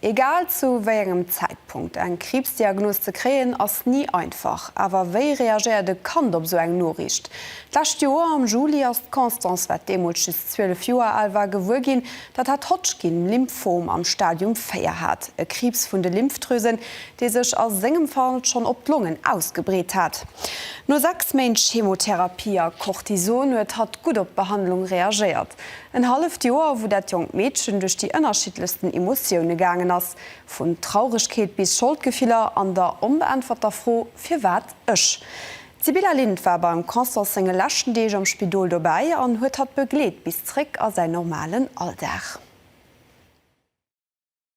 Egal zu wéi engem Zäitpunkt, eng Kriibsdiagnos ze kréien ass ni einfach. Awer wéi reagéiert e Kand op esou eng Noriicht? D'lescht Joer am Juli ass d'Constance, wat deemools just 12 Joer al war, gewuer ginn, datt hat Hodgkin-Lymphom am Stadium 4 hat, e Kriibs vun de Lymphdrüsen, dee sech a sengem Fall schonn op d'Longen ausgebreet hat. No 6 Méint Chemotherapie a Cortison huet hatt gutt op d'Behandlung reagéiert. En halleft Joer, wou dat jonkt Meedchen duerch déi ënnerschiddlechsten Emotioune gaangen ass, vun Traurigkeet bis Scholdgefiller an der onbeäntwerter Fro, Firwat ech? D'Sybilla Lind war beim Constance senge leschten Deeg am Spidol dobäi an huet hatt begleet bis zréck a säin normalen Alldag.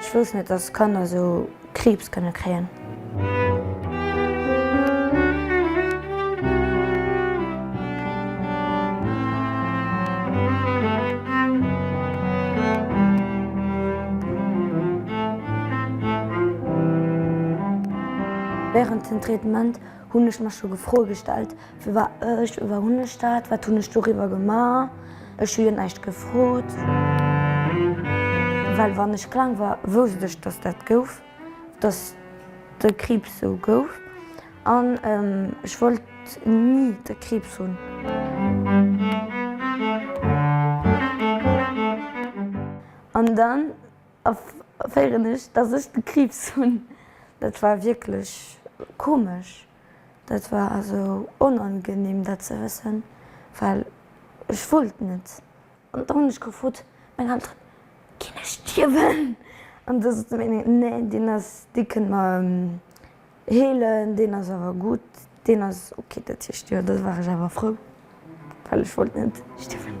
Ech wousst net, dass Kanner esou Kriibs kënne kréien. Wärend den Traitement Hunn ech mer scho Froe gestallt, Wie war ech? Wéi war hunn ech dat? Wat hunn ech doriwwer gemaach? Ech hu jo näischt gefrot. Well wann ech kleng war, wousst ech, dass dat gouf, dass de Kriibs sou gouf. An ech wollt ni de Kriibs hunn. An dann. Erféieren ech, dass ech de Kriibs hunn? Dat war wierklech komesch. Dat war esou onangenehm, dat ze wëssen, well ech wollt net. An da hunn ech gefrot, Meng Elteren, ginn ech stierwen? An da sote meng Elteren, Nee, deen ass, dee kënne mer. Heelen, deen ass awer gutt, deen ass ok, dat heescht jo, da war ech awer frou, well ech wollt net stierwen.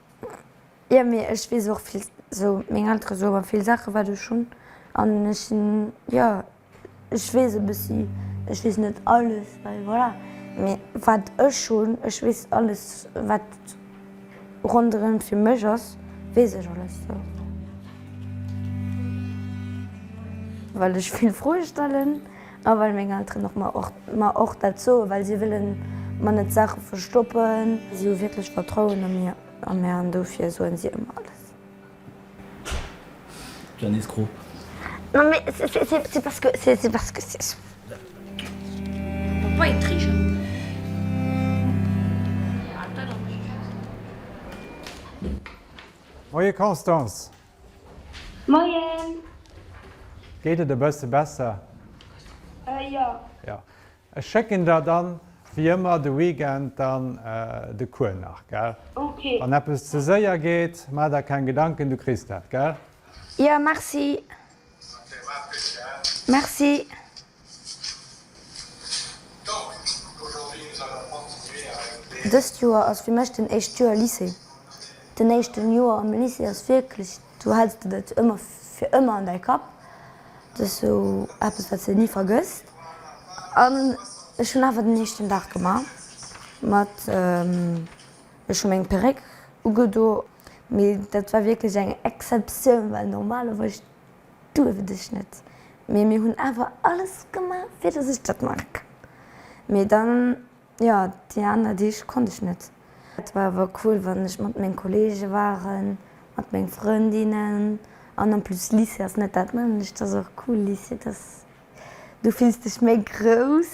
Jo mee ech wees och vill sou meng Elteren sou mer vill Saachen wat ech hunn an ech sinn jo ech wees e bëssi ech wees net alles well voilà mee wat ech hunn ech wees alles wat ronderem fir mech ass wees ech alles sou well ech vill Froe stellen. A well meng Elteren och mer och dat soen, well si wëlle mer net Saache verstoppen. Si hu wierklech Vertrauen a mir a mär an dofir soen si ëmmer alles. Janice Krop. Non mais c'est parce que c'est parce que c'est sûr. Faut pas être très gentil. Moie Constance, Moien! Geet et e bësse besser? Äh jo. Jo. Ech schécken der dann wéi ëmmer de Weekend dann de Cours nach, gell? Ok. Wann eppes ze séier geet, maach der keng Gedanken, du kriss dat, gell? Jo, merci. Merci. Dëst Joer ass fir mech den éischt Joer Lycée. Den éischten Joer am Lycée ass wierklech, do häls de dat ëmmer fir ëmmer an däi Kapp. Dat ass sou eppes wat s de ni vergëss. An ech hunn awer den éischten Dag gemaach mat, ech hu meng Perréck ugedo, mee dat war wierklech eng Exceptioun, well normalerweis. Duerft ech net, mee mir hunn awer alles gemaach fir dass ech dat maache kann. Mee dann, jo, déi aner Deeg konnt ech net. Et war awer cool wann ech mat meng Kollege waren, mat meng Frëndinnen an en plus Lycée ass net dat nämmlecht, ass och cool Lycée, dass, du fills dech méi grouss.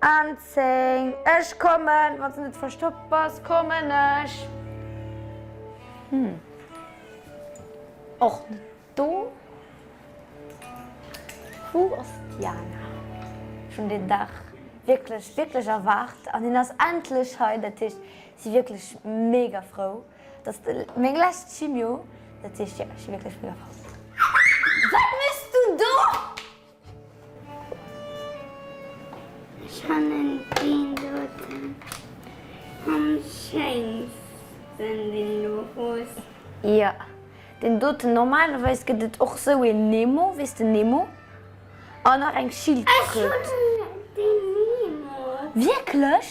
An 10, Ech kommen! Wann se net verstoppt bass, kommen ech! Hm. Och net do. Wou ass d'Jana? Ech hunn deen Dag wierklech, wierklech erwaart an hien ass endlech hei. Dat heescht, si wierklech mega frou. Et ass meng lescht Chimio. Dat heescht, jo, ech si wierklech mega frou. Wat méchs du do? Ech fannen deen doten am schéinsten deen do Rose. Jo deen doten, normalerweis gëtt et och sou een Nemo, weess den Nemo an nach eng Schildkröt. Ech hunn deen Nemo. Wierklech?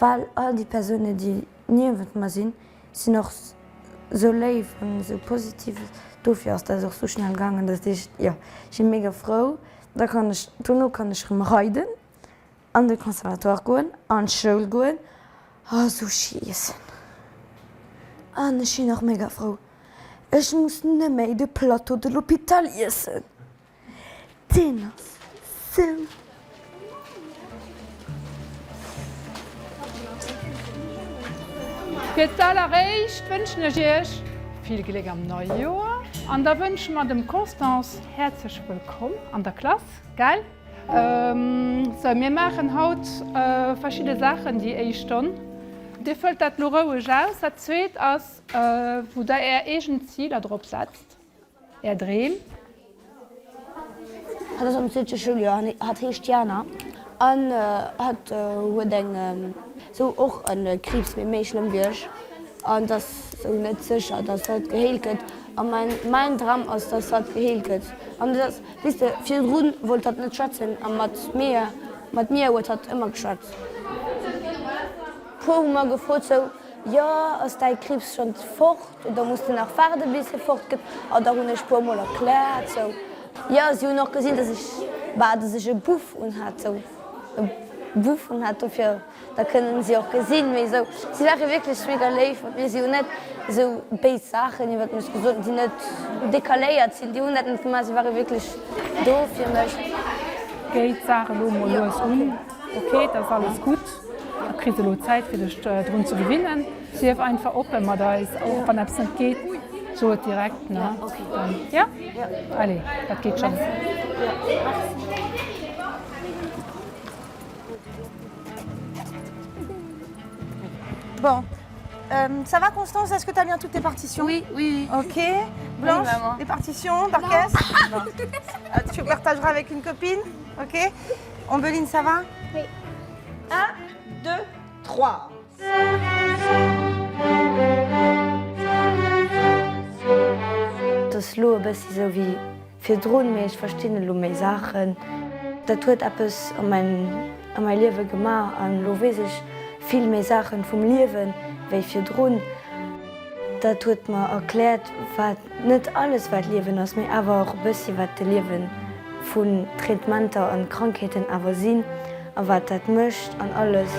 Well all déi Persounen, déi niewent mer sinn, sinn och sou léif an sou positiv. Dofir ass dat och sou schnell gaangen. Dat heescht, jo, ech si mega frou. Da kann ech, dono kann ech erëm reiden, an de Conservatoire goen, an d'Schoul goen a Sushi iessen. An ech sinn och mega frou, ech muss net méi de Plateau de l'hôpital iessen. Deen ass sou flott! Fir d'alleréischt wënschen ech iech vill Gléck am neie Joer an da wënsche mer dem Constance häerzlech wëllkomm an der Klass, gell? Sou, mir maachen haut verschidde Saachen déi éischt Stonn. Dir fëllt dat elo roueg aus. Dat zweet ass, wou der är eegen Ziler drop setzt. Är Dreem? Hat ass am zweete Schouljoer, hat heescht Jana an hat huet eng sou och en Kriibs mee méi schlëmm wéi ech an et ass sou net sécher dass hatt geheelt gëtt a mäin mäin Dram ass dass hatt geheelt gëtt an et ass wéiste virdrun wollt hatt net schwätzen a mat mir mat mir huet hatt ëmmer geschwat puer hu mer gefrot sou Jo, ass däi Kriibs schonns fort oder muss de nach waarde bis e fort gëtt? A da hunn ech puer mol erkläert sou, jo, si hunn och gesinn, dass ech, bah, dass ech e Buff unhat sou, e Buff unhat, dofir, da kënnen si och gesinn, mee sou, si ware wierklech mega léif mat mir, si hunn net sou béis Saachen iwwert mech gesot, déi net dekaléiert sinn, déi hunn dat net gemaach, si ware wierklech do fir mech. Géi d'Saach elo mol lues un. Ok, et ass alles gutt. Du kriss elo Zäit fir dech drun ze gewinnen. Sief einfach oppe mat eis, och wann eppes net geet, so et direkt. Jo? Allez, dat geet schonn. Bon, ça va Constance, est-ce que tu as bien toutes tes partitions? Oui, oui. Ok. Blanche, tes partitions par cœur? Tu partageras avec une copine? Ok. Ombelline, ça va? Oui. Un, deux, trois. Et ass elo e bëssi esou wéi virdrun, mee ech verstinn elo méi Saachen. Dat huet eppes a mäi Liewe gemaach an elo weess ech vill méi Saache vum Liewe wéi virdrun. Dat huet mer erkläert, wat. Net alles wat Liewen ass, mee awer och e bëssi wat de Liewe vun Traitementer an Krankheeten awer sinn a wat dat mécht an alles.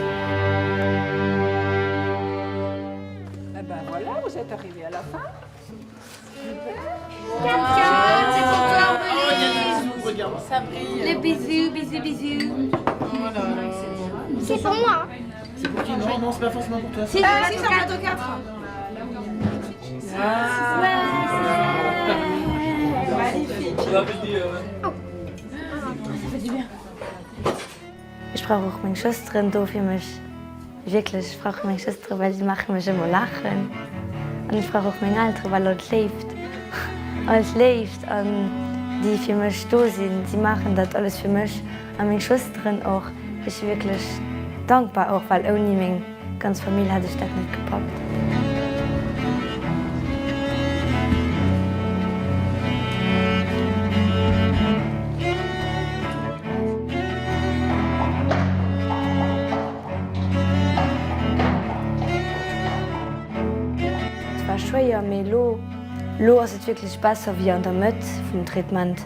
Ech brauch och meng Schwësteren do fir mech, wierklech, ech brauch meng Schwëstere well si maache mech ëmmer laachen. An ech brauch och meng Eltere well all d'Léift, all d'Léift an déi fir mech do sinn, si maachen dat alles fir mech. A meng Schwësteren och. Ech si wierklech dankbar och, well ouni meng ganz Famill hätt ech dat net gepackt. Et war schwéier, mee elo, elo ass et wierklech besser wéi an der Mëtt vum Traitement.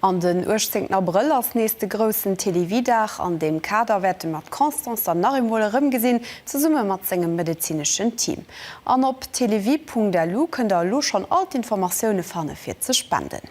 An den 18 Abrëll ass nees de groussen Télévie-Dag. An deem Kader wäerte mer d'Constance dann nach eemol erëmgesinn, zesumme mat sengem medezineschen Team. An op télévie.lu kënnt der elo schonn all d'Informatioune fanne fir ze spenden.